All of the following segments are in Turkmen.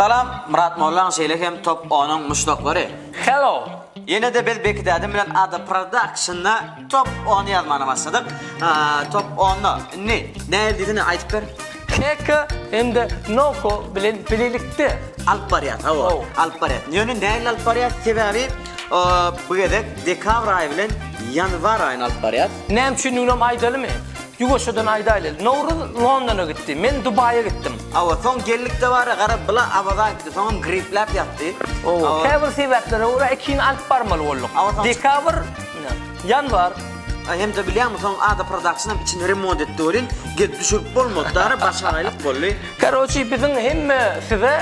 Salam, Myrat Mollaň şeýle hem Top Onuň muşdaklary. Hello. Ýene-de biz Beki dädem bilen Ada Production-da Top Ony ýazmana başladyk. Aaa, Top Ony. Indi nädip diýsene aýdyp ber. Eko hem-de Noko bilen bilelikde alyp barýas. Hawa, alyp barýas. Ýöne nähili alyp barýas? Sebäbi bu gezek dekabr aýy bilen ýanwar aýyny alyp barýas. Näme üçindiginem aýdalymy? Ýuwaşjadan aýdaýly. Nowruz Londona gitdi, men Dubaýa gitdim. Hawa, soň geldik dabara gara bula Awaza gitdi, soňam gripläp ýatdy. Hawa, käbir sebäplere görä ikini alyp barmaly bolduk. Dekabr. Ýanwar. Aý hemze bilýäňmi soň ada production içini remont etdi welin gelip düşürip bolmady dara başagaýlyk boldy. Karoçi biziň hemme size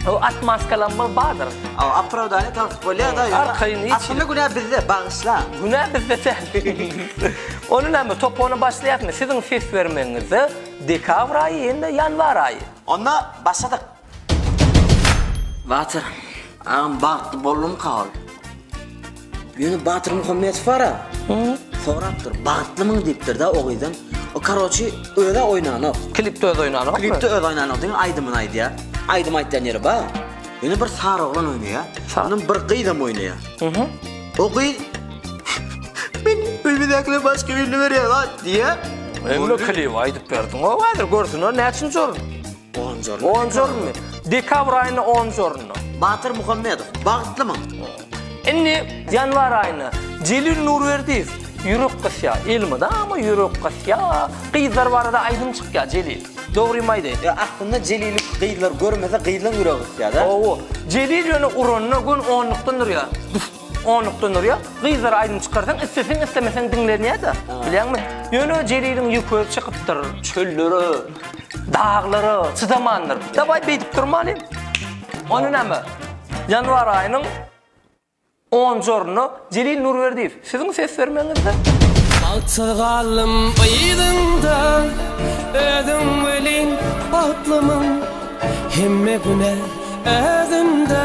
o atmaskalamyz bardyr. Aw aprawdaniýa tapyp bolýada ýöne aslynda günä bizde bagyşla. Günä bizde däl. Ony näme top ony başlaýakmy siziň ses bermegiňizde dekabr aýy hem-de ýanwar aýy. Onda başladyk. Batyr agam bagtly boldumyka ol? Ýöne Batyr Muhammedow bara sorapdyr, bagtlymyň diýipdir-de o gyzdan. O karoçi özi oýnanok. Klipde özi oýnanok. Klipde özi oýnanok diýen aýdymyny aýdýar. Aýdym aýtýan ýeri bar. Ýöne bir sary oglan oýnaýar. Ondan bir gyz hem oýnaýar. O gyz Men öýmedäkilere başga birini berýän-a diýýär. Öňki klibi aýdyp berdiň-ow häzir görsünler näçinji orun. Onjorn. Onjornmy? Dekabr aýynda Onjornda. Batyr Muhammedow, bagtlymy? Indi ýanwar aýynda Jelil Nurberdiýew, ýürek gysýa, elmydam ama ýürek gysýa. Gyzlar barada aýdym çykýa Jelil. Dogrymy aýdaýyn? Ýa aslynda Jelili gyzlar görmese gyzlaň ýüregi gysýada. Hawa. Jelil ýöne uranda gün onlukdan durýa. Onlukda Nurýa, gyzlara aýdym çykarsaň isleseň islemeseň diňlenýäda. Bilýäňmi? Ýöne Jeliliň ýüki çykypdyr. Çöllere, daglara çydamandyr. Dawaý beýdip durmalyň. Onda näme? Ýanwar aýynyň on jorunda Jelil Nurberdiýew siziň ses bermegiňizde. Bagtsyz galdym yzyňda özüň welin batlymyň hemme güne özümde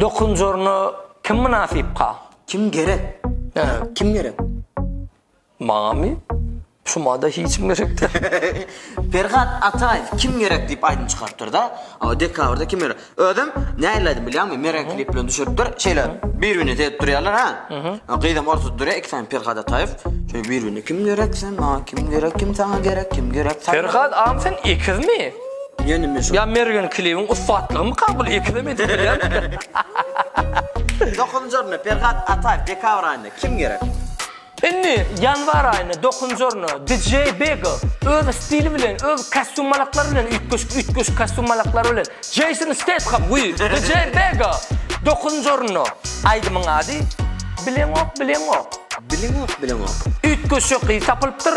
Dokunjaryna kim mynasypka? Kim gerek? Hä, kim gerek? Maňamy? Şumada hiç kim gerek däl. Perhat Ataýew Kim gerek diýip aýdym çykarypdyr-da. O dekabrda kim gerek? Özem nähili aýdym bilýäňmi? Mere klip bilen düşüripdir. Şeýle bir-birine seredip durýarlar, hä? Gyzam ortada durýar, iki sany Perhat Ataýew. Şeýle bir-birine kim gerek sen maňa, kim gerek, kim saňa gerek, kim gerek? Perhat agam sen ekizmi? Ýöne şu. Ýa Mergen klibiň ussatlygymy kabul eklem edip bilýärmikä? Dokuzynjy orunda Perhat Ataýew dekabr aýynda kim gerek? Indi ýanwar aýynda dokuzynjy orunda DJ Bego öz stili bilen öz kostýumalaklary bilen üýtgeşik üýtgeşik kostýumalaklary bilen Jeýson Stetham we DJ Bego dokuzynjy orunda aýdymyň ady Bileňok bileňok. Bileňok bileňok. Üýtgeşik gyz tapylypdyr.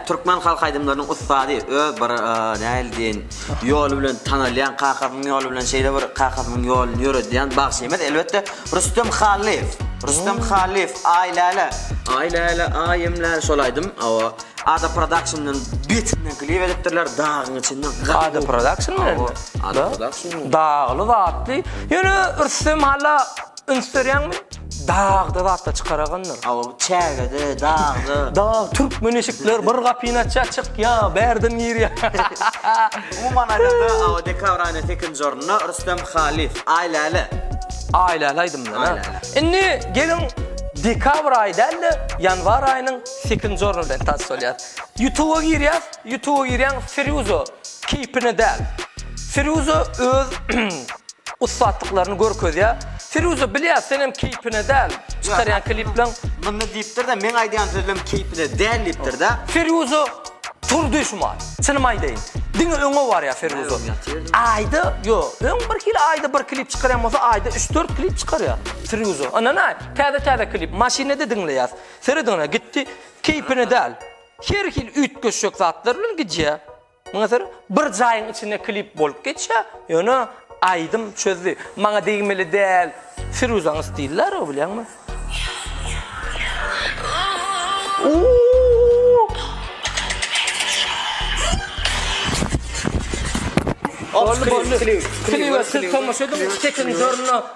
Türkmen halk aýdymlarynyň ussady öz bir nähili diýeýin ýoly bilen tanalýan kakasynyň ýoly bilen şeýle bir kakasynyň ýoluny ýöredýän bagşymyz elbetde Rüstem Hallyýew. Rüstem Hallyýew Aý läle Aý läle aýym läle şol aýdym hawa Ada Production'dan betinden klip edipdirler dagyň içinden gaty Ada Production bilenmi? Ada Production bilen. Dagly zatly ýöne Rüstem halla Üns berýäňmi? Dagda zat-da çykaragandyr. Hawa, bu çägede, dagda. Dag, türkmen eşikler, bir gapyny açýar, çykýar, bärden girýär. Umuman aýdanda, hawa, dekabr aýynyň sekizinji ornunda Rüstem Halyýew, Aý läle. Aý läle aýdymyndan, ha? Aý läle. Indi geliň, dekabr aýy däl-de, ýanwar aýynyň sekizinji orny bilen tans bolýas. Ýutuba girýäs, Ýutuba girýäň, Firýuza, keýpine däl. Firýuza öz ussatlyklaryny görkezýär. Firuza bilýär senem keýpine däl çykarýan klipleň. Munny diýipdirda meň aýdýan sözlem keýpine däl diýipdirda. Firuza turdy şumat. Çynymy aýdaýyn. Diňe öňe barýar Firuza. Aýda ýo öň bir hili aýda bir klip çykarýan bolsa aýda üç dört klip çykarýar. Firuza ynanaý täze täze klip maşynada diňleýäs. Serediň ine gitdi keýpine däl. Her hili üýtgeşjek zatlar bilen gidýär. Muňa seredip bir jaýyň içinde klip bolup geçýä ýöne aýdym çözdi maňa degmeli däl firuzaň stili däl o bilýäňmi. Boldy boldy klibe siz tomaşa ediň sekizinji orunda.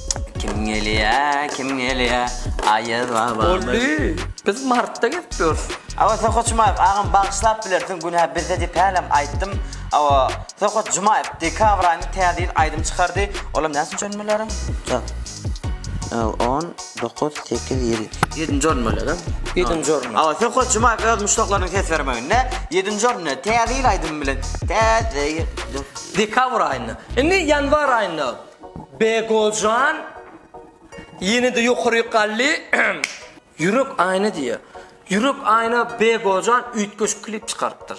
Kim gelýä, kim gelýä, Aýaz babamyz. Boldy, biz martda gelip ýörüs. Awa Sohut Jumaýew agam bagyşlap bilersiň günä bizde diýip hälem aýtdym. Awa Sohut Jumaýew dekabr aýynda täze ýyl aýdymy çykardy. Olam näçinji orun bolýaram? Jan. On dokuz sekiz ýedi. Ýedinji orun bolýaram. Ýedinji orun. Awa Sohut Jumaýew öz muşdaklarynyň ses bermeginde ýedinji orunda täze ýyl aýdymy bilen täze ýyl. Dekabr aýynda. Indi ýanwar aýynda. Begoljan ýene-de ýokaryk galdy. Ýürek aýna diýýär. Ýürek aýna Begoljan üýtgeşik klip çykarypdyr.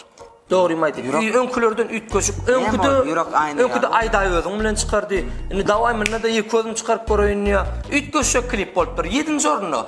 Dogrymy aýdyp. Ýürek- Ýü- Öňkülerden üýtgeşik. Näme ol, Öňküde Ýürek aýna Öňküde ýaly? Aýdaý özüň bilen çykardy. Indi dawaý munda-da ýeke özüm çykaryp göreýin diýýär. Üýtgeşik klip bolupdyr. Ýedinji orunda.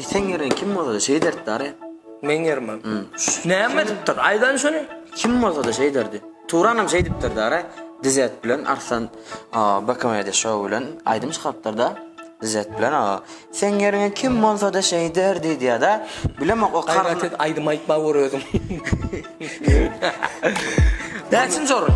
Seň ýeriň kim bolsa-da şeýit ederdi dary. Meň ýerime. Näme edipdir? Aýdan şuny. Kim bolsa-da şeýit ederdi. Turanam şeý diýipdir dary. Dizet bilen Arslan Bakomedy şou bilen aýdym çykarypdyr-da. Dizet bilen Seň ýeriňe kim bolsa-da şeý ederdi diýýär-de. Bilemok o kar. Gaýrat et, aýdym aýtma gör özüň. Näçinji orun?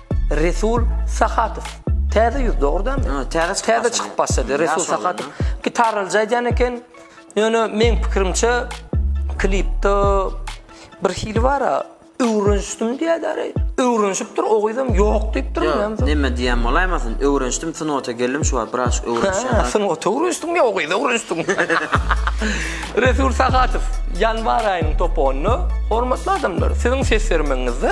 Resul Sahatow. Täze ýüz dogrudanmy? Ha, täze çykyp Täze başlady. çykyp başlady. Resul Ýaş oglan, Sahatow gitaralyja aýdýan eken. Ýöne meň pikirimçe klipde bir hili bara öwrenişdim diýýärler. Öwrenişipdir, o gyzam ýok diýipdir. Ýok, näme- Neme diýen bolaýmasyn? Öwrenişdim, sunota geldim şu wagt biraz öwrenişýän. Ha, sen oto öwrenişdiňmi ýa o gyzy öwrenişdiňmi? Resul Sahatow ýanwar aýynyň topundy. Hormatly adamlar, siziň ses bermegiňizde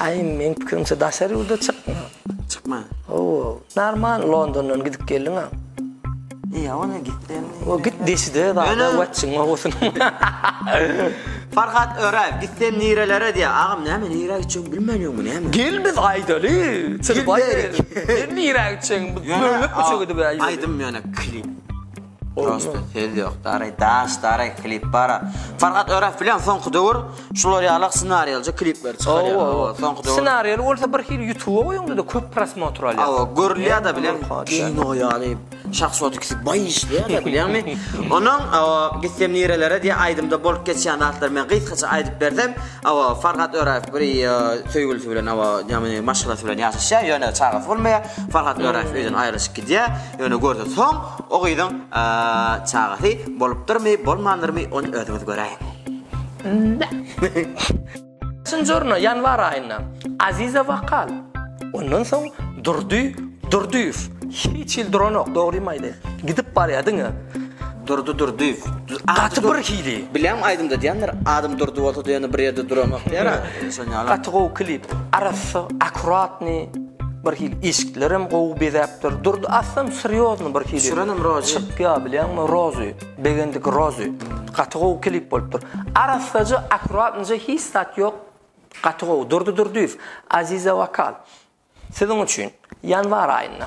Aý meň pikirimçe daşary ýurda çykma. Çykma. Hawa. Normal Londondan gidip geldiň a. Ýa ony gitdim. O git deşide zada watçyň owasyny. Farhat Öraýew gitsem nirelere diýä. Agam näme nirä gitjegini bilmänýogmy näme? Gel biz aýdaly. Çykyp aýdaly. Gel nirä gitjegiň biz bölüp üçe gidip aýdaly. Aýdym ýöne klip. Prosta söz ýok dary daş dary klip bara. Farhat Öref bilen soňky döwür şular ýalak ssenariýalja klipler çykarýar. Owo, owo. Soňky döwür. Ssenariýaly bolsa bir hili YouTube-a goýuňda-da köp prosmotr alýar. Awa, görülýär-de bilen kino ýaly şahsot ikisi baý işleýärler bilýäňmi? Onuň awa gitsem nirelere diýen aýdymda bolup geçýän zatlary men gysgaça aýdyp bersem, awa Farhat Öref bir söýgülisi bilen awa ýa-da maşgalasy bilen ýaşaşýar, ýöne çagasy bolmaýar. Farhat Öref öýden aýrylyşyp gidýär. Ýöne görse soň o gyzyň çagasy bolupdyrmy bolmandyrmy ony özüňiz göräýiň. Çynjorna ýanwar aýynda Aziza Wakal ondan soň Durdy Durdyýew hiç hili duranok dogrymy aýdaýyn gidip barýar diňe Durdy Durdyýew gaty bir hili. Bilýän aýdymda diýendir adym Durdy bolsa diýende bir ýerde duranok diýer-ä şonýaly. Gaty gowy klip arassa akkuratny. Bir hili eşiklerem gowy bezäpdir. Durdy aslym srýozny bir hili. Düşürenim Rozy. Çykýa bilýäňmi Rozy. Begendik Rozy. Gaty gowy klip bolupdyr. Arassaja akkuratnyja hiç zat ýok. Gaty gowy. Durdy Durdyýew. Aziza Wokal. Siziň üçin. Ýanwar aýynda.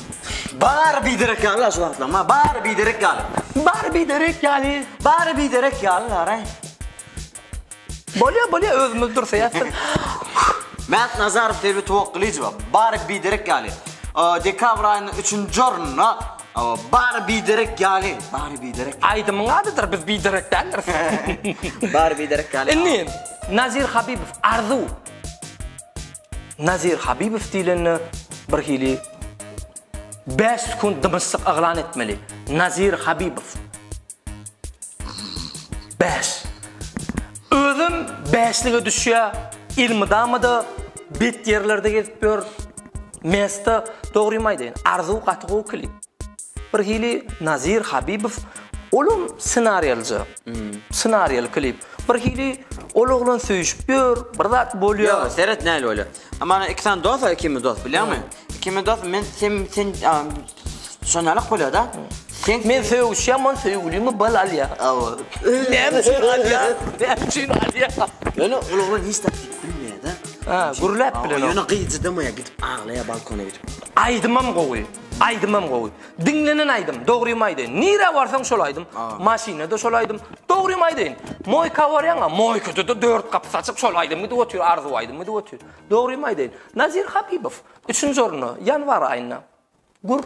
Bary biderek ýaly-la şu wagtlam, ha, bary biderek ýaly. Bary biderek ýaly. Bary biderek ýaly-la-raý. Bolýar, bolýar, özümiz dursaýasdyr. Mät Nazarow, Serwi Towakgylyjowa, Bary biderek ýaly. Dekabr aýynyň üçünji ornuna Bary biderek ýaly, bary biderek ýaly. Aýdymyň adydyr, biz biderek däldiris. Bary biderek ýaly. Indi Nazir Habibow, Arzuw. Nazir Habibow diýlende bir hili 5 sekund dymyşlyk yglan etmeli. Nazir Habibow. 5. Özüm 5-lige düşýär. Ilmydamada bet ýerlerde gezip ýör. Mesta dogrymy aýdaýyn. Arzuw gaty gowy klip. Bir hili Nazir Habibow olam ssenariýalyja. Ssenariýaly klip. Bir hili ol oglan söýüşip ýör, bir zat bolýar. Ýok, seret nähili bolýar. Mana iki sany dos bar, ikimiz dos, bilýäňmi? Ikimiz dos, men sen sen şonalak bolýar-da. Sen Men söýüşýän, men söýgülimi bal alýar. Hawa. Näme üçin alýar? Näme üçin alýar? Ýöne ol oglan hiç zat diýip bilmeýär-de. Ha, gürläp bilen. Ýöne gyz çydamaýar, gidip aglaýar balkona gidip. Aýdymam gowy. Aýdymam gowy. Diňlenen aýdym. Dogrymy aýdaýyn. Nirä barsaň şol aýdym. Maşynada şol aýdym. Dogrymy aýdaýyn. Moýka barýaňa, moýkada-da dört gapys açyp şol aýdym gidip otyr, arzuw aýdym gidip otyr. Dogrymy aýdaýyn. Nazir Habibow, üçünji orunda, ýanwar aýynda. Gür.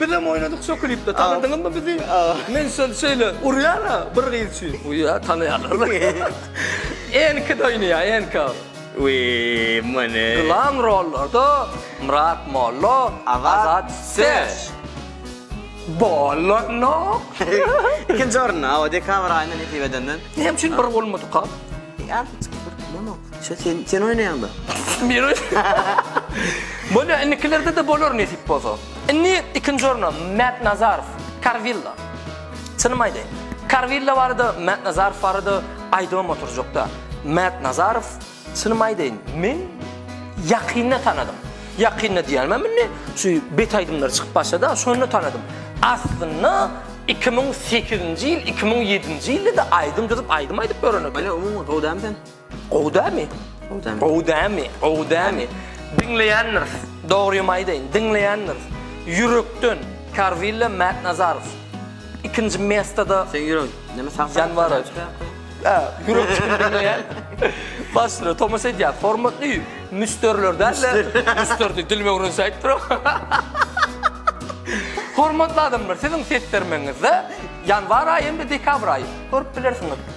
Bizem oýnadyk şo klipde. Tanadyňyzmy bizi? Men şol şeýle urýan-a bir gyz üçin. Uýa, tanaýarlar. Enki-de oýnaýar, Enka. Wiý, many. Glam rollarda Myrat Mollo, Azat Sesh. Bolanok. Ikinji orunda, hawa, dekabr aýynda nesip edenden. Näme üçin bir bolmadyka? Ýa, hiç kim bir bolany. Şu sen sen oýnaýaňda. Men oýnaýan. Bolýar, indikilerde-de bolar nesip bolsa. Indi ikinji orna Mät Nazarow, Karwilla. Çynymy aýdaýyn, Karwilla barada, Mät Nazarow barada aýdybam oturjakda. Mät Nazarow, çynymy aýdaýyn, men ýakynda tanadym. Ýakynda diýýänimem indi şu bet aýdymlary çykyp başlady-a, şonda tanadym. Aslynda iki müň sekizinji ýyl, iki müň ýedinji ýylda-da aýdym düzüp, aýdym aýdyp ýören ekeni. Ýa umuman gowy dälmi sen? Gowy dämi? Gowy dämi? Gowy dämi? Gowy dämi? Diňleýändiris. Dogrymy aýdaýyn, diňleýändiris. Ýürekden Karwilla Mätnazarow. Ikinji mestada Sen ýürek, näme sag Janwar. Hä, ýürek çykyp diňleýän. Başda tomaşa edýär. Hormatly müsdürler dälde, müsdürdi dilimi öwrensäýip duram. Hormatly adamlar, siziň ses bermegiňizde ýanwar aýy hem-de dekabr aýy. Görüp bilersiňiz.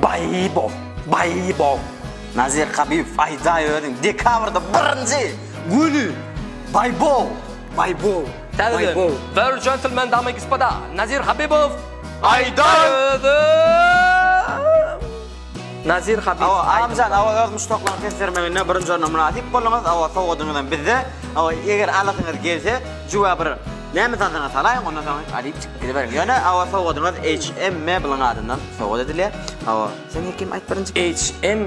Baý bol, baý bol! Nazir Habibow, aýdaý özüň, dekabrda birinji güni! Baý bol, baý bol, baý bol! World Gentlemen, damy i gspda, Nazir Habibow, aýdaý özüň! Nazir Habibow, aýdyň! Awa, Amjan, awa, öz muşdaklaryň ses bermeginde birinji orna mynasyp bolduňyz, awa, sowgadyňyzam bizde, awa, eger alasyňyz gelse, jüwä bir. Näme zadyna salaýyň, ondan soň alyp çykyp gidiberiň. Ýöne hawa sowgadyňyz HM Mebeliň adyndan sowgat edilýär. Hawa, sen Hekim aýt birinji. HM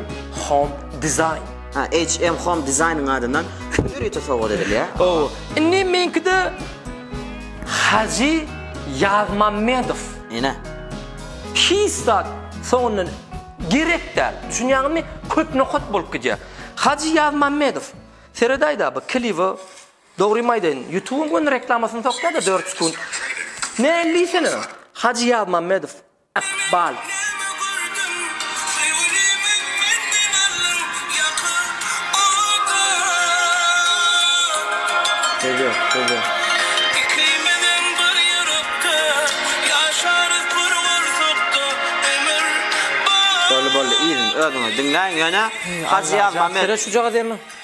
Home Design. Ha, HM Home Design-yň adyndan hütür ýiti sowgat edilýär. Hawa. Indi meňkide Hajy Ýazmammedow. Ine. Hiç zat soňundan gerek däl. Düşünýäňizmi? Köp nokat bolup gidýär. Hajy Ýazmammedow. Seredaý-da bu kliby. Dogrymy aýdaýyn, ýutubyň göni reklamasyny sokýada dört sekunt. Näli sene? Hajy Ýazmammedow, Ykbal. Boldy boldy yzyn özüňiz diňläň ýöne Hajy Ýazmammedow.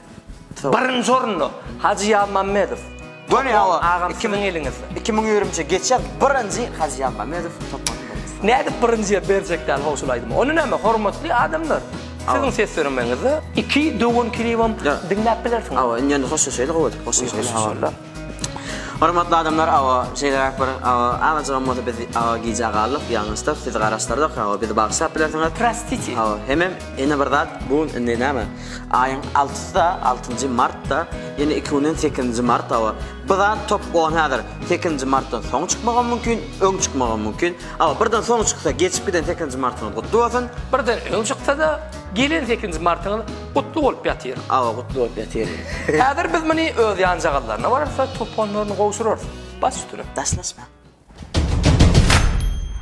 Birinji orunda Hajy Ýazmammedow. Göni awa agam kimin eliňizde. 2023 geçýär birinji Hajy Ýazmammedow toplan. Nädip birinjiye berjek däl how şul aýdymy. Ony näme hormatly adamlar. Siziň ses döremeňizde iki döwen kilibem diňläp bilersiňiz. Awa indi ýöne hoşlaşaýlyk owadan. Hoşlaşaýlyk. Hormatly adamlar awa şeýleräk bir awa agajygam bolsa biz awa gijä galdyk ýalňyşdyk sizi garaşdyrdyk awa bizi bagyşlap bilersiňiz. Prostiti. Awa hemem ene bir zat bu gün indi näme aýyň altysy-da altynjy martda ýene iki günden sekizinji mart awa bu zat top on häzir sekizinji martdan soň çykmagam mümkin öň çykmagam mümkin awa birden soň çyksa geçip giden sekizinji martyňyz gutly bolsun. Birden öň çyksa-da gelen sekizinji martyňyz Gutly bolup ýatyr. Awa gutly bolup ýatyr. Häzir biz muny öz ýanjagallaryna bararys-da, toponlaryny gowşurarys. Bas üstüne. Daşlaşma.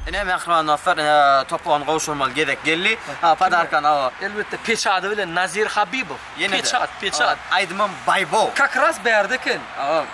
Ine, mähriban dostlar, ine, topony gowşurmaly gezek geldi. Ha, podarkany awa. Elbetde, peç ady bilen Nazir Habibow. Ýene-de. Peç at, peç at. Aýdymam Baýbow. Kakras bärde eken. Awa.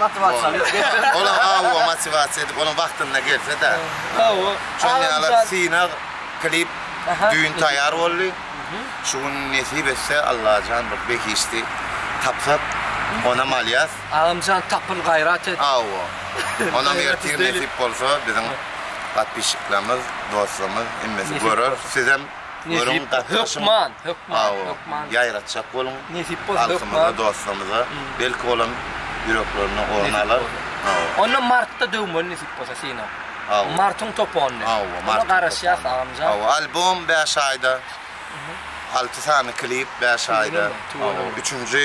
Motiwasiýa. Ola hawa motiwasiýa edip onuň wagtynda gelse-de. Hawa. Şonuň ýaly synag klip düýn taýýar boldy. Şu gün nesip etse Allajan bir behişdi tapsak onam alýas. Agamjan tapyl gaýrat et. Hawa. Onam ertir nesip bolsa biziň podpişiklerimiz, dostlarymyz hemmesi görer. Sizem. Görüň hökman hökman hökman ýaýratjak boluň nesip bolsa halkymyza dostlarymyza belki olam ýüreklerine orun alar onda martda döwmeli nesip bolsa seni martyň topanyny hawa martyň garaşýas agamjan hawa albom bäş aýda alty sany klip bäş aýda üçünji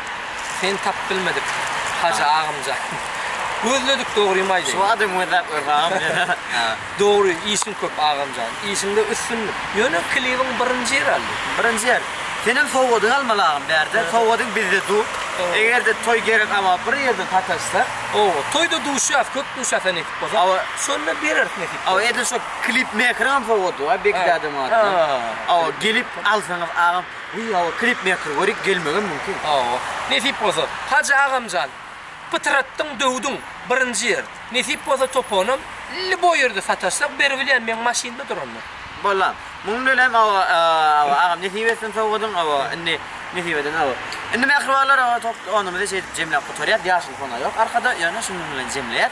Seni tapyp bilmedik Hajy agamjan. Gözledik dogrymy aýdaýyn. Şu adam gözläp görse agam meni. Dogry işiň köp agamjan. Işiňde üstünlik. Ýöne klibiň birinji ýer aldy. Birinji ýer. Senem sowgadyňy almaly agam bärde. Sowgadyň bizde dur. Egerde toý gerek ama bir ýerde sataşsak. Oba toýda duşýas köp duşýas sen ekip bolsaň. Oba şonda bereris nesip bolsa. Oba edil şo klip mekeriňem sowgady bar Bekdäde Marydan. Oba gelip alsaňyz agam. Wiý hawa klip meýker görik gelmegem mümkin. Hawa. Nesip bolsa. Hajy agamjan. Pytratdyň döwdüň. Birinji ýer. Nesip bolsa toponam lýuboý ýerde sataşsak beribilýän meň maşynda duranda. Bolam. Muň bilenem hawa hawa agam nesip etsin sowgadyň hawa indi nesip eden hawa. Indi mähribanlar hawa toponymyzy şeýdip jemläp gutarýas ýaşyl fona ýok arkada ýöne şunuň bilen jemleýäs.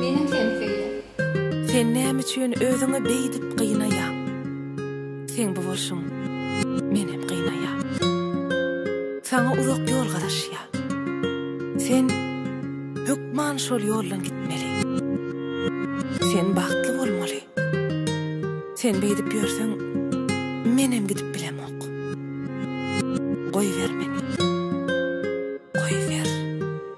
Meniň hem şeýle. Sen näme üçin özüňi beýdip gynaýaň? Seň bu bolşuň menem gynaýa. Saňa uzak ýol garaşýa. Sen hökman şol ýoldan gitmeli. Sen bagtly bolmaly. Sen beýdip ýörseň menem gidip bilemok. Goýber meni. Goýber.